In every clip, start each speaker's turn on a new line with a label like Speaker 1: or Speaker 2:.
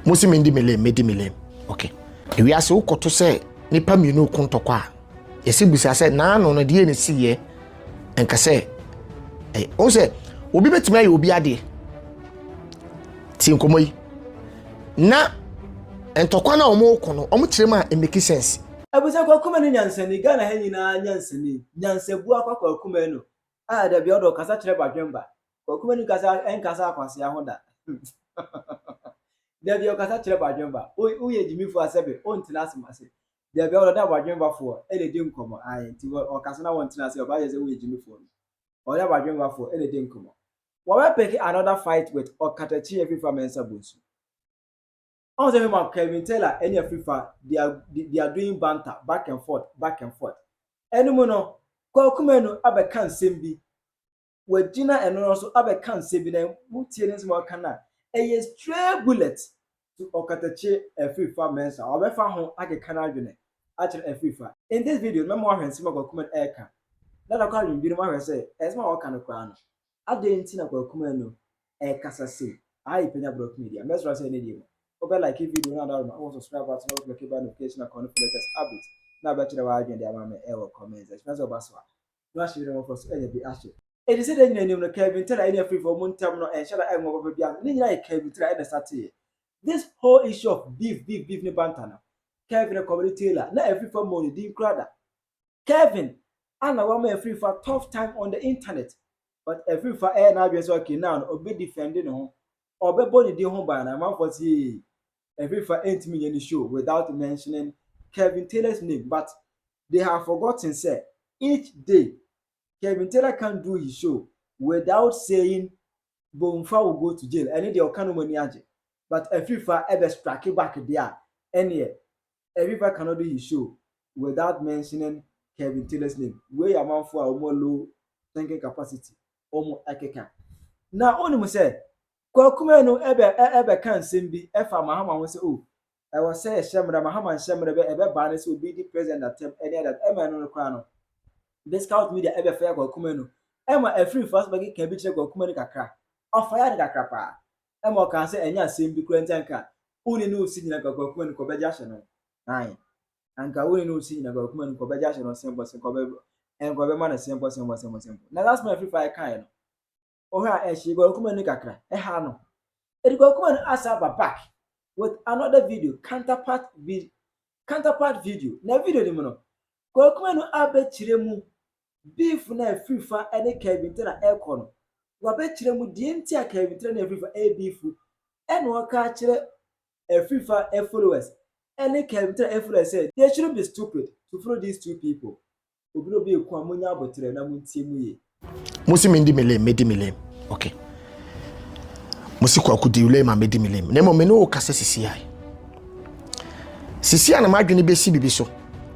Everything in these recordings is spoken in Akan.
Speaker 1: mo si mendi me lane medi me lane okay ewiase wokɔto sɛ nipa mmienu ko ntɔkwa a yɛsi bisa sɛ naano no deɛ ne si yɛ nka sɛ ɛyɛ o sɛ obi betumi ayɛ obi adeɛ ti nkɔmɔ yi na ntɔkwa na wɔn ko no wɔn kyerɛ mu a it make sense. Abusa kwakuma ne
Speaker 2: nyansani Ghana ha nyinaa nyansani nyansabu akwa kwakuma no a dabi ɔdɔ kasa kyerɛ badwemba Kwaku Manu kasa nkasa akwasea ho da. Dabi ɔkasa kyerɛ badwemba. Woyɛ gyimifo a sɛbe wontena ase ma se. Dabi ɔwɔ dɛ ɔda badwembafoɔ na edi nkɔmmɔ. Ae, nti ɔkasa na wontena ase a ɔbɛayɛ sɛ woyɛ gyimifoɔ no. Ɔwɔ dɛ badwembafoɔ na edi nkɔmmɔ. Wɔbɛpeke another fight with Ɔkatakyi Afrifa Mensah Bonsu. Ɔhu sɛ me ma Kelvin Taylor ne Afrifa they are, they are doing banter back and forth, back and forth. Ɛno mu no, Kwaku Manu abɛka nsɛm bi wagyina ɛno ara so abɛka nsɛm bi na wotie ne nsɛm a ɔka no a, ɛyɛ stray bullet to ɔkatakye afirifa Mensah. Ɔbɛfa ho akeka n'adwene akyerɛ afirifa. In this video no, mɛma woahwɛ nsɛm a Kwaku Manu ɛreka na na kɔ adwene binom ahwɛ sɛ nsɛm a ɔka no koraa no, adɛn nti na Kwaku Manu ɛrekasa sei? Aha yɛ Panya Borɔfo Media. Mɛsrɛ sɛ ɛnnɛ die mu, wobɛ like video no ada ma, wo subscribe button na wo click bell notification icon no for latest updates na wobɛkyerɛ w'adwene de ama me ɛwɔ comments. Ɛhyɛ sɛ woba so a, na wɔahyɛ Yuda mmofra so anya bi ahyɛ. Enti sɛnea anya nim no, Kelvin Taylor ne Afirifo a wɔn ntam no nhyɛ da nwowa papa biara no, ne nyinaa yɛ Kelvin Taylor na ɛsa teɛ. This whole issue of beef, beef, beef ne banter no, Kelvin na kɔmede Taylor, na Afirifo ammɔ ne din koraa da. Kelvin a na wama Afirifo a tough time on the internet, but Afirifo a ɛyɛ n'adwene sɛ okay now no, ɔbɛdefɛnde ne ho, ɔbɛbɔ ne din ho ban no, amanfoɔ se yei, Efifa ntumi nyɛ ne show without mentioning Kevin Taylor's name but they have forgotten sɛ each day Kevin Taylor can't do his show without saying Bomfa will go to jail ɛne deɛ ɔka no mu ani agye but Efifa ɛbɛ strike back deɛ a ɛneɛ Efifa cannot do his show without mentioning Kevin Taylor's name wei yɛ amanfoɔ a wɔn low thinking capacity wɔn ɛkeka na wɔn mu sɛ Kwakumɛ no ɛbɛ ɛ ɛbɛ ka nsɛm bi ɛfa Mahama ho sɛ oh ɛwɔ sɛ yɛhyɛ mmra, Mahama nhyɛ mmra bɛ ɛbɛ baa no sɛ obi di president atɛm ɛne ade ade ɛma ɛno no koraa no bɛ scout media ɛbɛ faya Kwakumɛ no ɛma ɛfiri mfaso bɛ keka bi kyerɛ Kwakumɛ no kakra ɔfaya no kakra paa ɛma ɔkaa sɛ ɛnyɛ asɛm bi koraa nti anka wo ne no resi nyina anka Kwakumɛ no kɔbɛ gya hye no ae anka wo ne no resi nyina anka Kwakumɛ no kɔbɛ gya hye no sɛmpɔ sɛ kɔbɛ ɛnkɔbɛ ma no sɛmpɔ sɛmpɔ sɛmpɔ sɛmpɔ na last month ɛfiri faya kaeɛ no ɔhɔ a ɛhyɛ Guagu Kumah ni kakra, ɛha no. Ɛde Guagu Kumah no asan aba back with another video, counterpart vi counterpart video. Na video no mu no, Guagu Kumah no abɛkyerɛ mu beef no a ɛfiri fa ne Kelvin Tera ɛrekɔ no. Wabɛkyerɛ mu deɛ nti a Kelvin Tera ne ɛfiri fa ɛyɛ beef ɛna ɔka akyerɛ ɛfiri fa followers ɛne Kelvin Tera followers sɛ they shouldn't be stupid to follow these two people. Obi na obi eku a monya aboterɛ na montie mu ye. Mosi mendi me
Speaker 1: lane, medi me lane. Okay. Mosi kwaku di lane ma medi me lane. Na mmom me ne wo kasa sisi ae. Sisi a na m'adwene besi bibi so.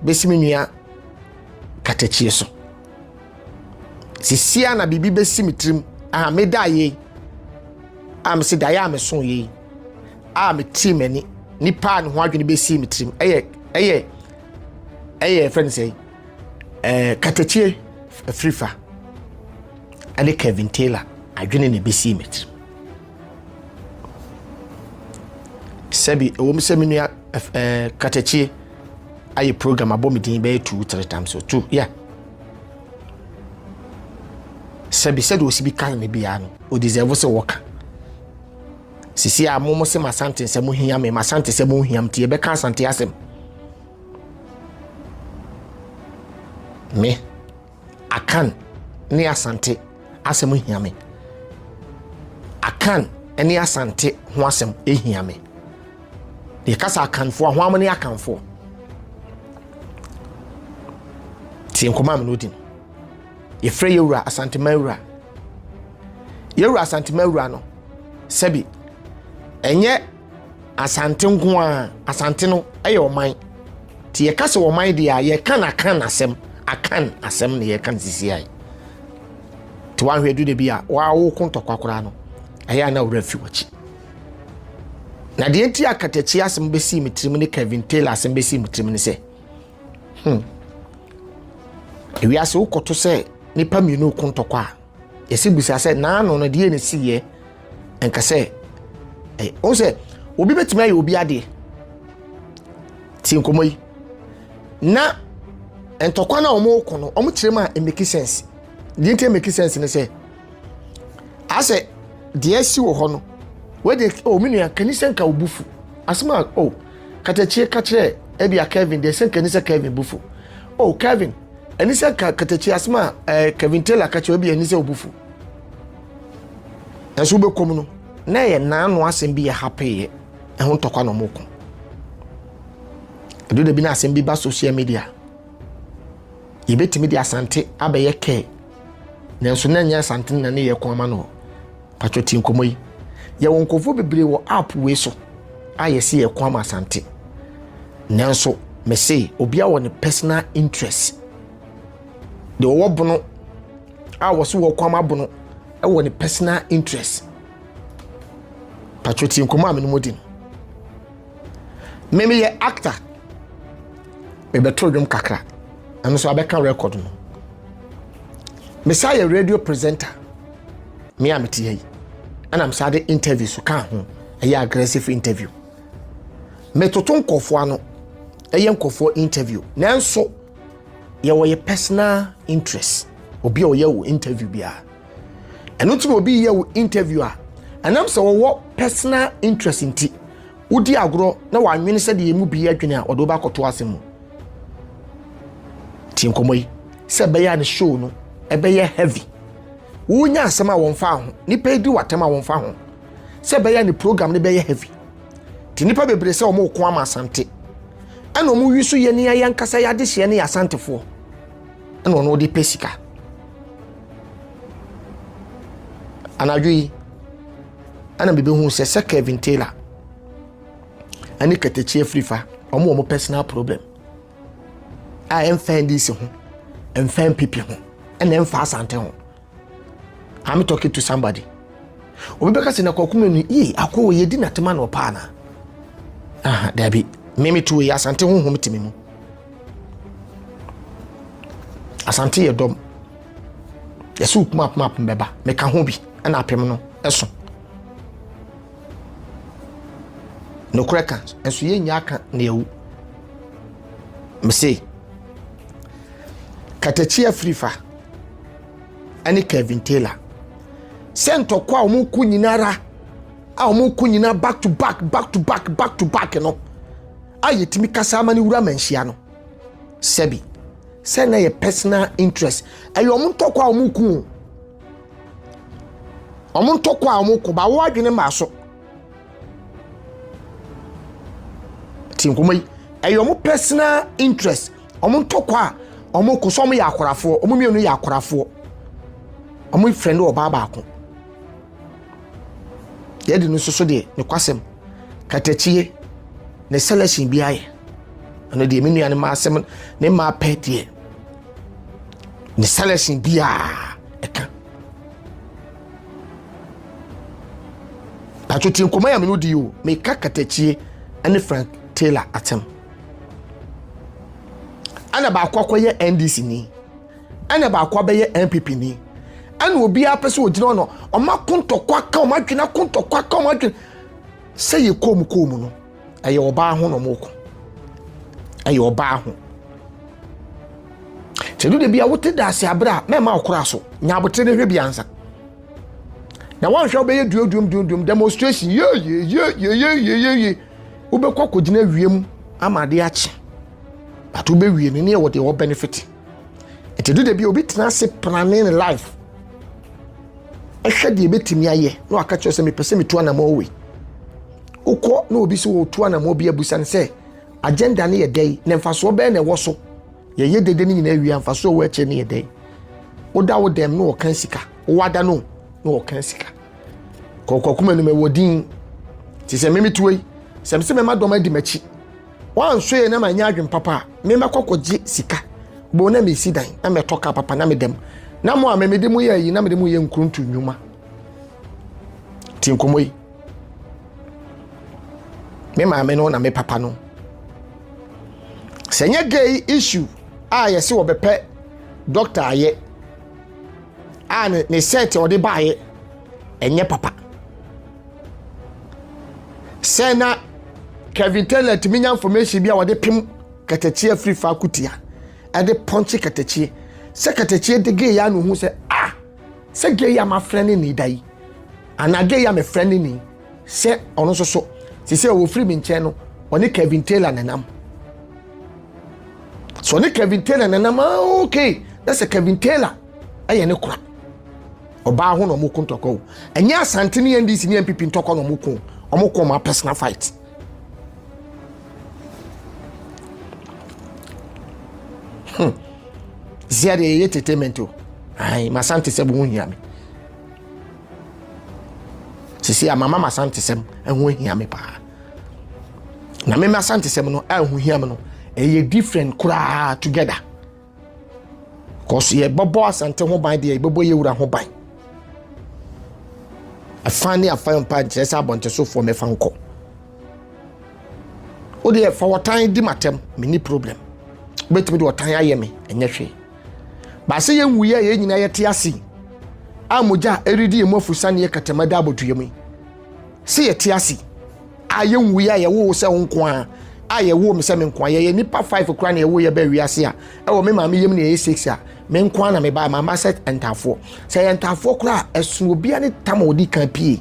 Speaker 1: Besi me nua katakyie so. Sisi a na bibi besi me tirim. Ah, me da ye. Ah, me se da ya me so ye. Ah, me ti m'ani. Nipa a ne ho adwene besi me tirim. Ɛyɛ ɛyɛ ɛyɛ fɛn sɛ ɛɛ katakyie afirifa ɛne kevin taylor adwene na ebesi mi tirim sɛbi ɛwɔ mu sɛ mi nua ɛɛ katakyie ayɛ program abɔ mi din bɛyɛ two three times so two yeah sɛbi sɛdeɛ osi bi kan ne biara no o deserve sɛ wɔka. Sisi a mo mo se m'Asante nsɛm mo hia me, m'Asante sɛm mo hia mti yɛbɛka Asante asɛm. Me, Akan ne Asante asɛm hia me. Akan ne Asante ho asɛm hia me. Yɛkasa Akanfoɔ a, ho amone Akanfoɔ. Tie nkɔmɔ a me no Yɛfrɛ Yɛwura Asantema Wura. Yɛwura Asantema Wura no, sɛbi ɛnyɛ Asante nko ara, Asante no ɛyɛ ɔman. Nti yɛka sɛ ɔman deɛ a, yɛka no akan asɛm, akan asɛm na yɛka no sisiae. Nti woanhwɛ du da bi a, woawoko ntɔkwa koraa no, ɛyɛ a na wura fi wakyi. Na deɛ nti a Katakyi asɛm bɛsii me tirim ne Kevin Taylor asɛm bɛsii me tirim ne sɛ, hmm. ewiase wokɔto sɛ nipa mmienu ko ntɔkwa a yɛsi bisa sɛ naano no deɛ ne si yɛ nka sɛ ɛ ɔn sɛ obi bɛtumi ayɛ obi adeɛ ti nkɔmɔ yi na ntɔkwa no a wɔn ko no wɔn kyerɛ mu a it make sense deɛ nti make sense ne sɛ asɛ deɛ asi wɔ hɔ no wɔde ɔmi oh, nua kanisɛn ka obufu asɛm a o. Oh, Katakyie ka kyerɛɛ ebia Kevin deɛ sɛ nka ni sɛ Kevin bu fo. Oh Kevin, ɛni sɛ nka Katakyie asɛm a ɛɛ eh, Kevin Taylor ka kyerɛ ebia ɛni sɛ obu fo. Nanso wobɛkɔm no, na ɛyɛ naano asɛm bi yɛ hapeeɛ, ɛho ntɔkwa na ɔmo ko. Ɛdo da bi na asɛm bi ba social media. Yɛbɛtumi de asante abɛyɛ kɛɛ, nanso na ɛnyɛ asante na ne yɛ ko ama no hɔ. Patwɔ ti nkɔmɔ yi. Yɛwɔ nkurɔfoɔ bebree wɔ app wei so a yɛse yɛko ama Asante. Nanso mese obiara wɔ ne personal interest. Deɛ ɔwɔ bono a wɔse wɔko ama bono wɔ ne personal interest. Patwɔ ti nkɔmɔ a menom odi no. Meme yɛ actor. Mebɛto dwom kakra. Ɛno so abɛka record no. Mesa yɛ radio presenter. me a mete ha yi ɛna msa de interview so ka ho ɛyɛ aggressive interview metoto nkɔfoɔ ano ɛyɛ nkɔfoɔ interview nanso yɛwɔ yɛ personal interest obi a ɔyɛ wo interview biara ɛno nti na obi yɛ wo interview a ɛnam sɛ wɔwɔ personal interest nti wodi agorɔ na wɔanwene sɛ deɛ mu bi adwene a ɔde wobɛakɔto ase mu tie nkɔmmɔ yi sɛ ɛbɛyɛ a ne show no ɛbɛyɛ heavy Wonya asɛm a wɔmfa ho. Nipa yi di w'atɛm a wɔmfa ho. Sɛ ɛbɛyɛ ne program no bɛyɛ heavy. Te nipa bebree sɛ wɔn ko ama asante. Ɛna wɔn wi so yɛ ne ayɛ nkasa yɛ adehyeɛ ne yɛ asantefoɔ. Ɛna wɔn de pɛ sika. Anadwo yi, ɛna mebɛhu sɛ sɛ Kevin Taylor ɛne Katakyi afirifa wɔn wɔn personal problem. a ɛmfa ndc ho ɛmfa npp ho ɛna ɛmfa asante ho i'm talking to somebody obi bɛka sɛ na kɔkoma ni ee akɔ wɔ yɛdi natema na ɔpaa na aha daabi meme to yɛ asante honhom teme mu asante yɛ dɔm yɛsɛ wokuma apem apem bɛba meka ho bi ɛna apem no ɛso nokorɛ ka nso yɛnya aka na yɛwu mese katakyi afirifa ɛne kevin taylor sɛ ntɔkɔ a wɔn ko nyinara a wɔn ko nyina back to back back to back back to back no a yɛtumi kasa ama no wura manhyia no sɛbi sɛ na yɛ personal interest ɛyɛ wɔn ntɔkɔ a wɔn ko wɔn ntɔkɔ a wɔn ko ba wɔn adwene maa so. ti nkɔmɔ yi ɛyɛ wɔn personal interest wɔn ntɔkwa a wɔn kɔ so wɔn yɛ akorafoɔ wɔn mmienu yɛ akorafoɔ wɔn fɛn do ɔbaa baako yɛ de no soso deɛ ne kwasɛm katakyie ne selection bi ayɛ ɛno deɛ me nua ne ma asɛm ne ma pɛ deɛ ne selection biara ɛka. patwo ti nkɔmɔ yɛ mene di yi o meka katakyie ne frank taylor atam ɛna baako akɔyɛ ndc ni ɛna baako abɛyɛ npp ni ɛna obiara pɛ sɛ ogyina hɔ no ɔma kontɔkwa ka ɔma adwene kontɔkwa ka ɔma adwene sɛ yɛ kɔn mu kɔn mu no ɛyɛ ɔbaa ho na ɔmo ko ɛyɛ ɔbaa ho sɛ ɛdu dabi a wote daase abere a mɛma ɔkora so nya abotire no hwɛ bi ansa na wanhwɛ wobɛyɛ duoduom duoduom demonstration yeyeyeyeyeyeye wobɛkɔ akɔgyina wiem ama ade akye but wobɛwie no ne ɛwɔ deɛ wɔ benefit ɛti du dabi obi tena ase planning life ɛhwɛ deɛ ɛbɛtumi ayɛ na waka kyerɛ sɛ mepɛ sɛ metu anamɔ wei wokɔ na obi sɛ wɔtu anammɔ bi abusa no sɛ agenda no yɛ dɛn na mfasoɔ bɛn na ɛwɔ so yɛyɛ dede no nyinaa wie a mfasoɔ ɛwɔ akyire no yɛ dɛn woda wo dɛm na wɔka sika wowada no na wɔka sika kɔkɔkoma anim ɛwɔ din te sɛ memetuo yi sɛ mesɛ mɛma dɔm adi m'akyi wɔanso yɛ na manyɛ adwen papa a memɛkɔ kɔgye sika bɛo na mesi dan na mɛtɔ ka papa na medam na mo a memede mu yɛ ayi na mede mu yɛ nkuruntu nnwuma ti nkɔmmɔ yi me maame no na me papa no sɛ nyɛ gay issue a yɛse wɔbɛpɛ doctor ayɛ a ne ne set ɔde baayɛ ɛnyɛ papa sɛ na kevin taylor tumi nya information bi a wɔde pem katakyie afiri fa akutia ɛde pɔnkye katakyie sɛ katakyie de gay ya no hu sɛ ah sɛ gay a mafrɛ ne ne da yi Anadwo yi a mefrɛ no ni sɛ ɔno nso so te sɛ wɔfiri me nkyɛn no ɔne Kevin Taylor na nam sɛ ɔne Kevin Taylor na nam ah, okay na sɛ Kevin Taylor ɛyɛ ne kora ɔbaa ho na ɔmo ko ntɔkwa o ɛnyɛ asante ne NDC ne NPP ntɔkwa na ɔmo ko ɔmo ko ɔmo personal fight hmm. zia de ɛyɛ entertainment o ayi masante sɛ bo ho hia me sisi a mama masantesɛm ɛho ahia me paa na mema asantesɛm no ɛho hia me no ɛyɛ different koraa together kɔso yɛbɛbɔ asante ho ban deɛ yɛbɛbɔ yɛwura ho ban ɛfa ne afa mpa nkyerɛ sɛ abɔntesofoɔ mɛfa nkɔ wodeɛ fa wɔtan di matɛm menni problem wobɛtumi de wɔtan ayɛ me ɛnyɛ hwee Baasɛ yɛnwui a yɛn nyinaa yɛte ase yi a mogya a ɛredi yɛn mu afusa ne yɛ kɛtɛma da abɔdua mu sɛ yɛte ase a yɛnwui a yɛwoo sɛ wo nko a a yɛwoo me sɛ me nko a yɛyɛ nipa five kora na yɛwo yɛ bɛɛ wiase a ɛwɔ me maame yam na yɛyɛ six a me nko a na me baa maama sɛ ntaafoɔ sɛ yɛ ntaafoɔ kora a ɛsono obiara ne tam a ɔdi kan pie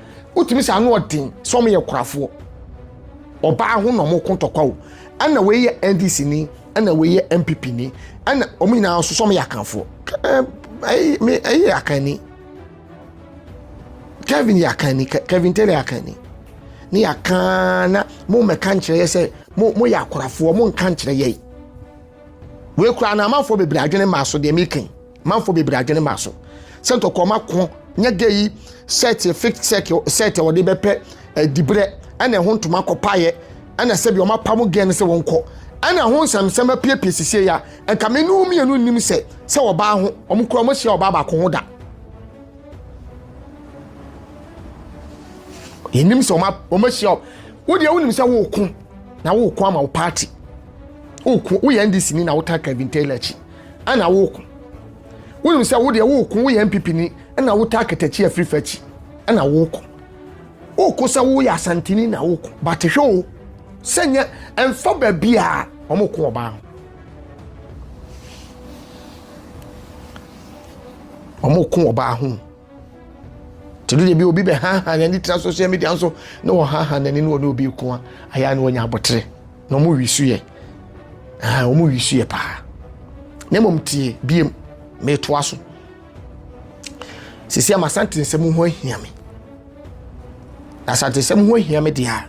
Speaker 1: wotumi sɛ ano ɔden sɛ wɔn yɛ korafoɔ ɔbaa ho na wɔn ko ntɔkwa o ɛna wei yɛ ndc ni ɛna wei yɛ npp ni ɛna wɔn nyinaa nso sɛ wɔn yɛ akanfoɔ ɛyi ɛyi yɛ akanni kevin yɛ akanni kevin taylor yɛ akanni ne yɛ akan na mo mɛka nkyerɛ yɛ sɛ mo mo yɛ akorafoɔ mo nka nkyerɛ yɛ wei kura na amanfoɔ bebree adwene maa so deɛ mi kan. Manfoɔ bebree adwene maa so sɛ ntɔkɔma ko nyɛ gɛ yi sɛɛteɛ, fake sɛɛteɛ a wɔde bɛpɛ adiberɛ ɛna ɛho ntoma akɔpaeɛ ɛna sɛbi wɔn apamo gɛ no sɛ wɔn kɔ ɛna ɛho nsɛmsɛm apiepie sisie ya nka me ne wo mmienu nnim sɛ sɛ ɔbaa ho wɔn kura wɔn ahyia ɔbaa baako ho da. yɛnim sɛ wɔn ahyia wo deɛ wonim sɛ woko na woko ama wo party woko woyɛ ndc ni na wotaa Kevin Taylor akyi ɛna woko wonim sɛ wo deɛ woko woyɛ npp ni ɛna wotaa katakyi afiri fa akyi ɛna woko woko sɛ woyɛ asanteni na woko bate hwɛ o sɛ nyɛ ɛmfa baabi a wɔn ko ɔbaa ho wɔn ko ɔbaa ho te do deɛ bi obi bɛ ha ha n'ani tena social media nso na wɔn ha ha n'ani na wɔn ne obi ko a ayɛ a na wɔnya abotire. na wɔn wi so yɛ ɛɛ wɔn wi so yɛ paa na mmom tie biem metoa so sisi ama asante nsɛm ho ahia me na asante nsɛm ho ahia me deɛ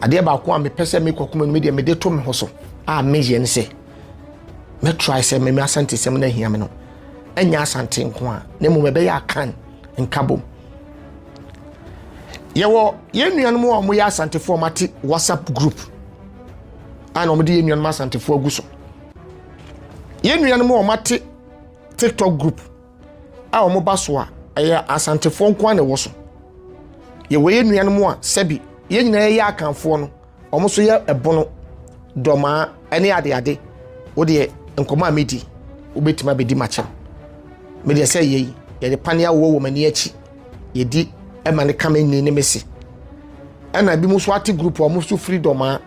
Speaker 1: adeɛ baako a mepɛ sɛ mekɔ kuma no me deɛ mede to me ho so a meyɛ ne sɛ mɛtrae sɛ mɛmi asante nsɛm no ahia me no ɛnyɛ asante nko a na mmom ɛbɛyɛ akan nkabom yɛwɔ yɛn nuanom a wɔyɛ asantefoɔ a wɔate whatsapp group a na wɔde yɛn nuanom asantefoɔ agu so yɛn nuanom a wɔate tiktok group a wɔba so a ɛyɛ asantefoɔ nko na ɛwɔ so yɛwɔ yɛn nuanom a sɛbi yɛn nyinaa yɛ akanfoɔ no Wɔn nso yɛ ɛbono, dɔmaa ɛne adeade. Wo deɛ nkɔmɔ a medi wobɛtumi abɛdi makyɛm. Me deɛ sɛ yɛyi yɛde pane awowɔ wɔ m'ani akyi yɛdi ɛma ne ka me nni ne me se. Ɛna ebi mu so ate group a wɔn nso firi dɔmaa.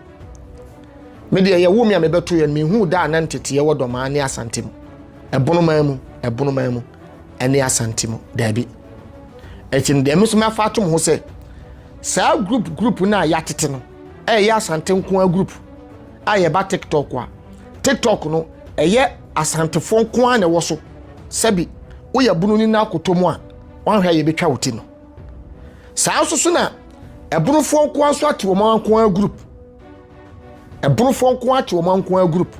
Speaker 1: Me deɛ yɛwo me a mebɛto yɛn mehu da a na nteteɛ wɔ dɔmaa ne asante mu. Ɛbono maa mu, ɛbono maa mu ɛne asante mu daabi. ɛti no deɛ ɛmi nso mi afa ato mo ho sɛ saa group group no a yɛatete no ɛyɛ asante nko ara group a yɛba tiktok a tiktok no ɛyɛ asantefoɔ nko ara na ɛwɔ so sɛbi woyɛ bunu ni na akoto mu a wɔahwɛ a yɛbɛtwa wo ti no saa nso so na ɛbunufoɔ nko ara nso ate wɔn nko ara group ɛbunufoɔ nko ara ate wɔn nko ara group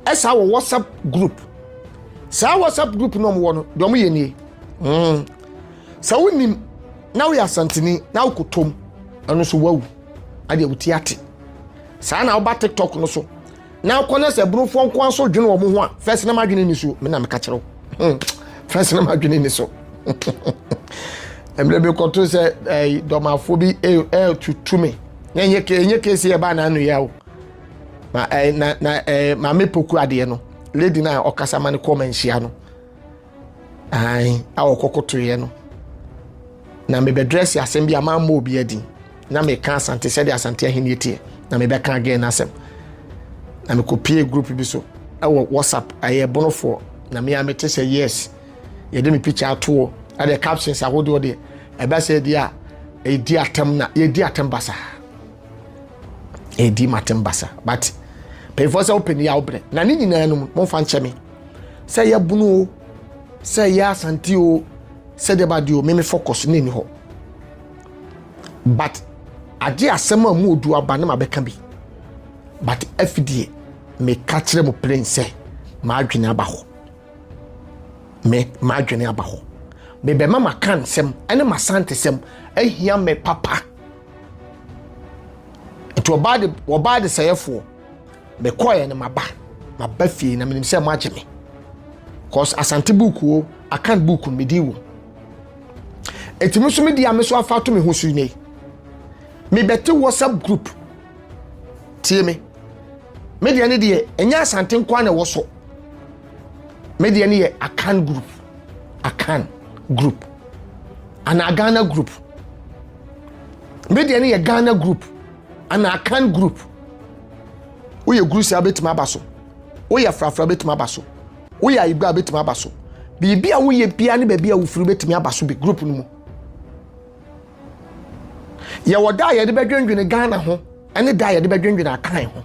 Speaker 1: ɛsaa wɔ whatsapp group saa whatsapp group na wɔwɔ no deɛ wɔyɛ nie mm. sɛ wonim na woyɛ asanteni na wokɔtɔm ɛno so wawu adeɛ woti ate saa na woba tiktok no so na wokɔ no sɛ burofoɔ nkoa so dwene wɔ mo ho a fɛs na madwene ni so mena meka kyerɛ wo hmm. fɛs na madwene ni so mmerɛ bi kɔto sɛ dɔmafoɔ bi ɛtutu me na ɛnyɛ kesi ɛbaa na ano yɛ o na ɛɛ eh, na na ɛɛ eh, maame poku adeɛ no lady na ɔkasa ma no kɔɔ ma nhyia no ayi a ɔkɔkotoeɛ no na mebɛdrɛse asɛm bi a maa mmɔ obi adi na meka asante sɛdeɛ asante ahenni teɛ na mebɛka again no asɛm na mekɔpie group bi so ɛwɔ whatsapp ɛyɛ bonofoɔ na mea mete sɛ yes yɛde me picture atoɔ ɛdeɛ captions ahodoɔ deɛ ɛbɛ sɛ deɛ a ɛdi atam na yɛdi atam basaa ɛdi matem basa but mpanyinfoɔ sɛ wopɛ ne yɛ awobrɛ na ne nyinaa no mu momfa nkyɛ me sɛ yɛ bunu o sɛ yɛ asante o sɛ deɛ badeɛ o meme focus ne ni hɔ but agye asɛm a mu odu aba ne ma bɛka bi but afideɛ meka kyerɛ mu plain sɛ maadwene aba hɔ me maadwene aba hɔ mebɛma maka nsɛm ne masante sɛm ahia me papa nti ɔbaa de ɔbaa de sɛyɛfoɔ mekɔɛ no maba maba fie na menim sɛ mo agye me cause asante buukuo akan buuku no medi wɔ eti me nso medi a me nso afa to me ho so ne mebɛte whatsapp group tie me me deɛ ne deɛ ɛnyɛ asante nkoa na ɛwɔ so me deɛ ne yɛ akan group akan group anaa ghana group me deɛ no yɛ ghana group ana akan group woyɛ guru saa bɛtumi aba so woyɛ frafra bɛtumi aba so woyɛ ayigba bɛtumi aba so biribi a woyɛ bia ne baabi a wofiri bɛtumi aba so bi group no mu yɛwɔ da a yɛde bɛdwendwene ghana ho ɛne da a yɛde bɛdwendwene akan ho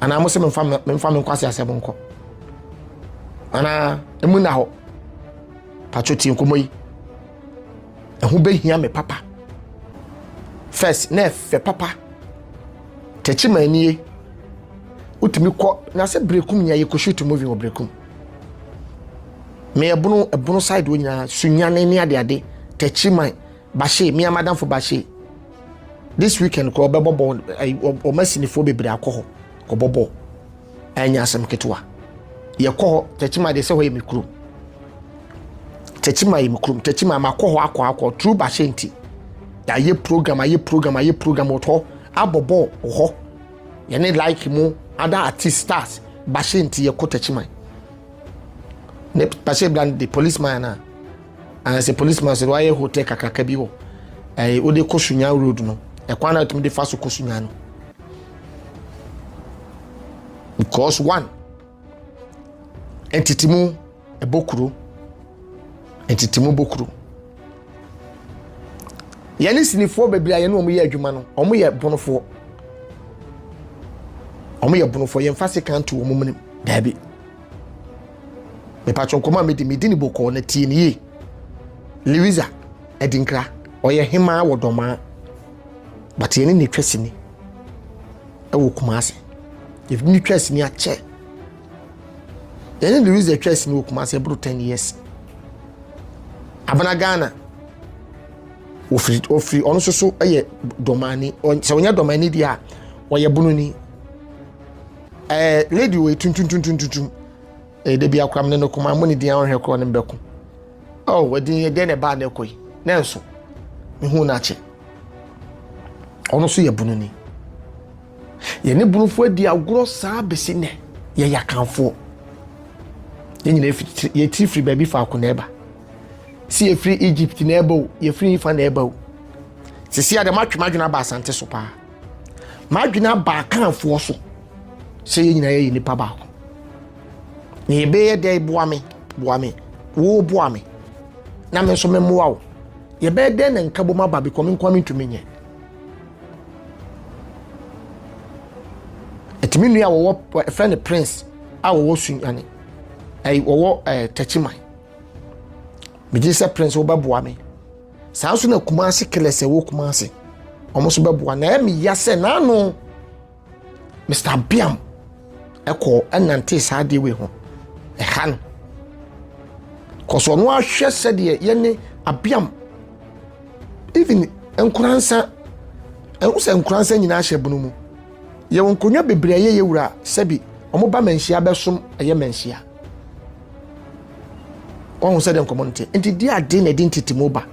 Speaker 1: anaa mo sɛ memfa memfa me nkwasi asɛm nkɔ anaa emu nna hɔ patro tie nkɔmmɔ yi ɛho bɛhia me papa first na ɛfɛ papa tɛkyi ma anie wotumi kɔ na sɛ berekum nyinaa yɛkɔ shoot movie wɔ berekum meyɛ bono ɛbono side wɔ nyinaa sunyane ne adeade tɛkyi man Bahyee, me a m'adamfo Bahyee, this weekend kɔ ɔbɛbɔ bɔɔl, wɔn asinifoɔ bebree akɔ hɔ kɔbɔ bɔɔl, ɛnyɛ asɛm ketewa. Yɛkɔ hɔ, Tɛkyima deɛ sɛ hɔ yɛ me kurom. Tɛkyima yɛ me kurom, Tɛkyima makɔ hɔ akɔ akɔ, true Bahyee nti. Yɛayɛ program, ayɛ program, ayɛ program wɔ hɔ, abɔ bɔɔl wɔ hɔ. Yɛne like mu, other artist stars, Bahyee nti yɛkɔ Tɛkyima. Ne Bahyee bra no de policeman anaa? Ɛɛ sɛ policeman sɛ wayɛ hotel kakraka bi wɔ ɛɛ wode kɔ Sunyan road no ɛkwan na tumi de fa so kɔ Sunyan no because one ɛtitimu ɛbɔ kuro ɛtitimu bɔ kuro yɛne sinifoɔ bebree a yɛne wɔn yɛ adwuma no wɔn yɛ bonofoɔ wɔn yɛ bonofoɔ yɛn fa se kan to wɔn mu daabi. mepatwo nkɔmɔ a medi medi ne bokɔɔ na tie ne yie liriza adinkra ɔyɛ hemaa wɔ dɔmaa but yɛne ne twa sini ɛwɔ kuma ase yɛne ne twa sini akyɛ yɛne liriza twa sini wɔ kuma ase ɛboro 10 years abena ghana ofiri ofiri ɔno nso so yɛ dɔmani sɛ ɔnyɛ dɔmani deɛ a ɔyɛ bununi Eh, lady wei tuntuntuntuntum. Eh, da bi akora mene no koma mmɔ ne din a ɔnhwɛ korɔ no mbɛko. Oh, wadin yɛ dɛn na ɛbaa na ɛkɔ yi. Nanso, mehu no akyɛ. Ɔno nso yɛ bunu ni. Yɛne bunufoɔ adi agorɔ saa bɛsi nnɛ. Yɛyɛ akanfoɔ. Yɛn nyina yɛtiri firi baabi faako na ɛba. Si yɛfiri Egypt na ɛba o, yɛfiri fa na ɛba o. Sisi a dɛm atwem adwene aba asante so paa. m'adwene aba akanfoɔ so sɛ yɛn nyinaa yɛyɛ nipa baako na yɛbɛyɛ dɛ boa me boa me wo boa me na me nso memmoa wo yɛbɛyɛ dɛ na nka bom aba bikɔ me nkoa mentumi nyɛ ɛtumi nua wɔwɔ ɛfɛ ne prince a wɔwɔ sunyane ɛyi wɔwɔ ɛɛ tɛkyiman megye sɛ prince wobɛboa me saa nso na kumase killers ɛwɔ kumase wɔn nso bɛboa na ɛmi ya sɛ n'ano mr biam ɛkɔ ɛnante saa adeɛ wei ho ɛha no kɔsɔ ɔno ahwɛ sɛdeɛ yɛne abiam even nkoransa ɛho sɛ nkoransa nyinaa hyɛ bunu mu yɛwɔ nkonnwa bebree a yɛyɛ wura sɛbi wɔn ba manhyia bɛsom ɛyɛ manhyia. wɔn sɛ deɛ nkɔmɔ no te nti di ade na ɛde ntetemu ba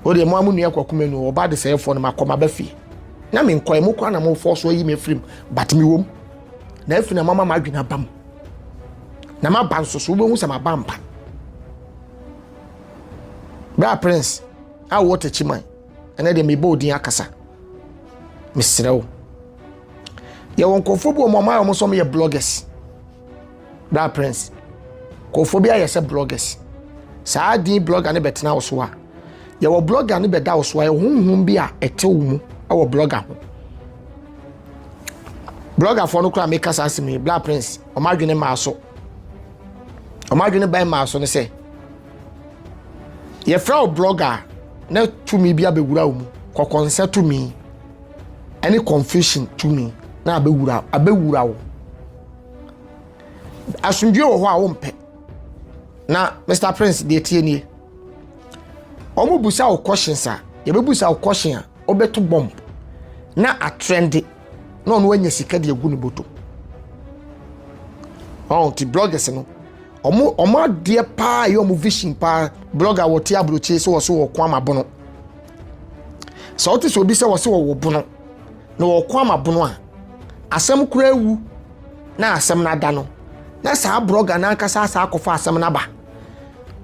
Speaker 1: o deɛ mo a mo nua kɔ kuma nu ɔba de sɛ ɛfɔ no ma kɔ ma ba fie na me nkɔ ɛmo kɔ na mo fɔ so ayi me firim but me wɔm na afi na mama ma adwene aba mu na ma ba nso so wobɛhu sɛ ma ba mpa bra prince a wɔte kyiman ɛnɛ deɛ mebɔ odin akasa mesrɛ wo yɛwɔ nkurɔfoɔ bi wɔn ɔmo ayɛ wɔn sɛ wɔn yɛ bloggers bra prince nkurɔfoɔ bi ayɛ sɛ bloggers saa din blogger ne bɛtena wo so a yɛwɔ blogger ne bɛda wo so a ɛhonhom bi a ɛte wo mu ɛwɔ blogger ho bloggerfoɔ no koraa meka saa asɛm yi bra prince wɔn adwene maa so wɔn adwene bɛn maa so ne sɛ yɛfrɛ wo blɔga a na tumi bi abɛwura wo mu kɔkɔnsɛ tumi ɛne confusion tumi na abɛwura abɛwura wo asomdwoe wɔ hɔ a wompɛ na mr prince deɛ tie nie wɔn busa wo questions a yɛbɛbusa wo question a wobɛto bomb na atrɛnde na ɔno anya sika de agu ne bɔtɔ ɔn ti bloggers no Ɔmo ɔmo adeɛ paa ɛyɛ ɔmo vision paa blogger wɔ te aburokyire sɛ wɔso wɔ kwan ma bono sɛ ɔte sɛ obi sɛ wɔso wɔ wɔ bono na wɔ kwan ma bono a asɛm kura ewu na asɛm na ada no na saa blogger na ankasa asa akɔfa asɛm na ba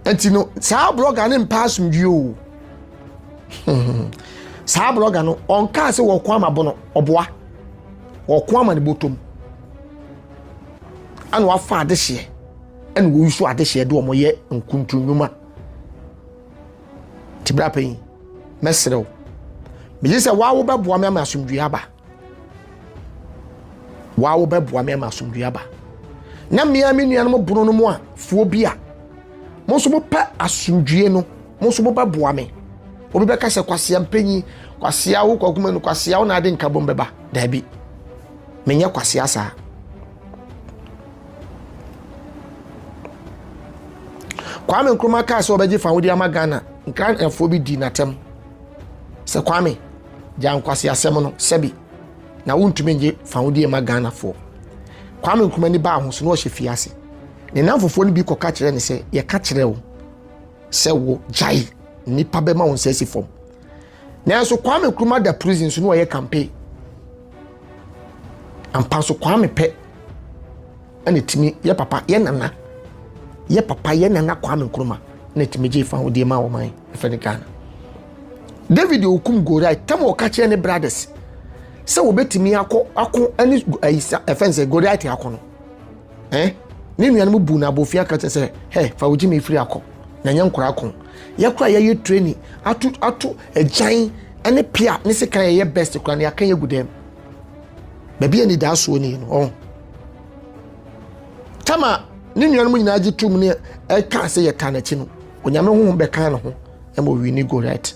Speaker 1: nti no saa blogger ne mpa asomdwie o saa blogger no ɔnkaa sɛ wɔ kwan ma bono ɔboa wɔ kwan ma ne botom Ana wɔafa adehyeɛ ɛna wɔyi so adehyeɛ de wɔn yɛ nkuntrunnwuma nti bra panyin mɛsrɛ wo megye sɛ waa wobɛboa me ama asomdwoeɛ aba waa wobɛboa me ama asomdwoeɛ aba na mmea me nuanom bono no mu a fuo bi a mo nso mopɛ asomdwoeɛ no mo nso mobɛboa me obi bɛka sɛ kwasea mpanyin kwasea wo kwakuma no kwasea wo na ade nkabom bɛba daabi menyɛ kwasea saa kwame nkrumah kaa sɛ ɔbɛgye fa wode ama ghana nkranfoɔ bi di n'atɛm sɛ kwame gya nkwasea asɛm no sɛbi na wontumi ngye fa wode ma ghanafoɔ kwame nkrumah ni baa ho so na ɔhyɛ fie ase ne namfofoɔ no bi kɔka kyerɛ ne sɛ yɛka kyerɛ wo sɛ wo gyae nnipa bɛma wo nsa si fam nanso kwame nkrumah da prison so na ɔyɛ campaign ampa so kwame pɛ ɛna tumi yɛ papa yɛ nana yɛ papa yɛ nana kwame nkrumah na tumi gye fa ahodeɛ ma wɔman ɛfɛ ne ghana david okum goriai tam ɔka kyerɛ ne brothers sɛ wɔbɛtumi akɔ ako ne ayisa ɛfɛn sɛ goriai te ako no eh ne nuanom bu no abofia ka kyerɛ sɛ hɛ fa wo gyimi efiri akɔ na nyɛ nkora ko yɛ kora yɛyɛ training ato ato agyan ne pia ne sekan yɛyɛ best kora ne aka yɛ gu dɛm baabi a ni daa soɔ ni no ɔn tama ne nuanom nyinaa gye tom ne ɛka sɛ yɛ taa n'akyi no onyame honhom bɛka ne ho ɛma owi ne go right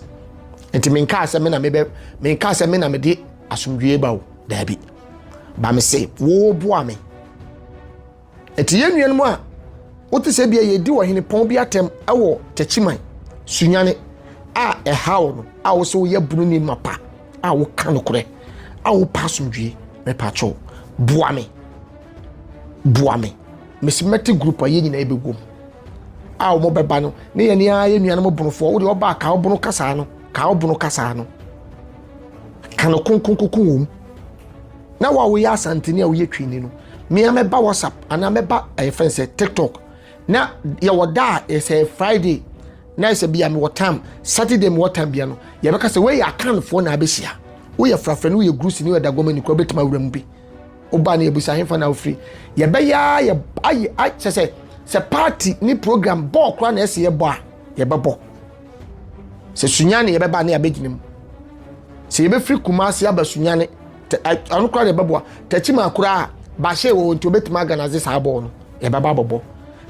Speaker 1: nti menkaa sɛ me na mebɛ menkaa sɛ me na mede asomdwie ba o daabi ba me se wɔreboa me ɛti yɛn nuanom a wote sɛ bia yɛdi wɔ hene pɔn bi atɛm ɛwɔ takyiman sunyane a ɛhaw no a wo sɛ woyɛ bunu ne mapa a woka nokorɛ a wopa asomdwie mepatwɔ boa me boa me mesi mɛte group a yɛn nyinaa yɛbɛwom a wɔn bɛba no ne yɛn ne ayɛ nuanom bonofoɔ wode ɔba kaa ɔbono kasaa no kaa ɔbono kasaa no ka no konkonkoko wɔ mu na wo a woyɛ asantene a woyɛ twini no mmea mɛba whatsapp anaa mɛba ɛyɛ fɛn sɛ tiktok na yɛwɔ da a ɛsɛ friday na ɛsɛ bia mewɔ tam saturday mewɔ tam bia no yɛbɛka sɛ woyɛ akanfoɔ na abɛhyia woyɛ frafra no woyɛ grusi ne woyɛ dagoma ni kora wobɛtumi awura mu bi woba ne yɛbusa hefa na wofiri yɛbɛyɛ a yɛ ayɛ kyɛ sɛ sɛ party ne program bɔɔ kora na ɛsɛ yɛbɔ a yɛbɛbɔ sɛ sunyane yɛbɛba ne abɛgyina mu sɛ yɛbɛfiri kumase aba sunyane ano koraa na ɛbɛboa takyima koraa bahyɛ wɔ nti obɛtumi aganadze saa bɔɔl no yɛbɛba abɔbɔ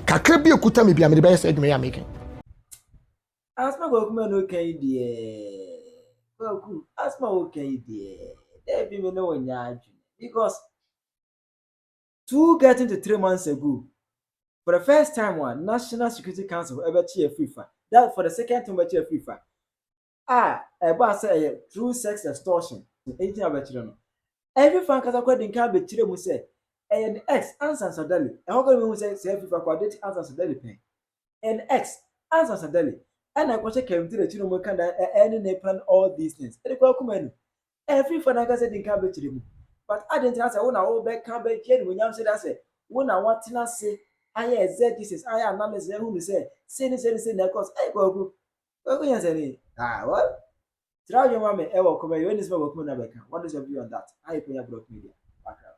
Speaker 1: kakra bi ɛkuta me bi a mede bɛyɛ sɛ adwuma yɛ ameka asma
Speaker 2: kwaku ma no kan deɛ kwaku asma wo kan deɛ daabi me ne wo nyɛ adwene because Two getting to three months ago, for the first time a National Security Council ɛbɛkye afiri fa, that for the second time bɛkye afiri fa, a ɛbaa sɛ ɛyɛ through sex extortion, ɛnti na bɛkyerɛ no. Afiri fa ankasa kora di nkan bɛkyerɛ mu sɛ ɛyɛ ne ex ansa nsa dali, ɛhɔ kora bɛhu sɛ sɛ afiri fa kɔ adate ansa nsa dali pɛn, ɛyɛ ne ex ansa nsa dali, ɛna ɛkɔhyɛ kɛntiri akyi na wɔka da ɛne ne plan all these things, ɛde kɔ akuma nu, Ɛmfiri fa n'ankasa din ka bɛkyerɛ mu. But adɛn nti na sɛ wo na wobɛka bɛgye animuonyam sɛ da sɛ wo na woatena ase ayɛ exegesis ayɛ analysis ahunu sɛ sei ne sei ne sei na ɛkɔɔ so. Ei Kwaku! Kwaku Nyansani! Ah well, tra adwene ma me ɛwɔ comment, wei ne sɛ ma Kwaku Mena bɛka, what is your view on that? Aye Kwanya Brock Media, background.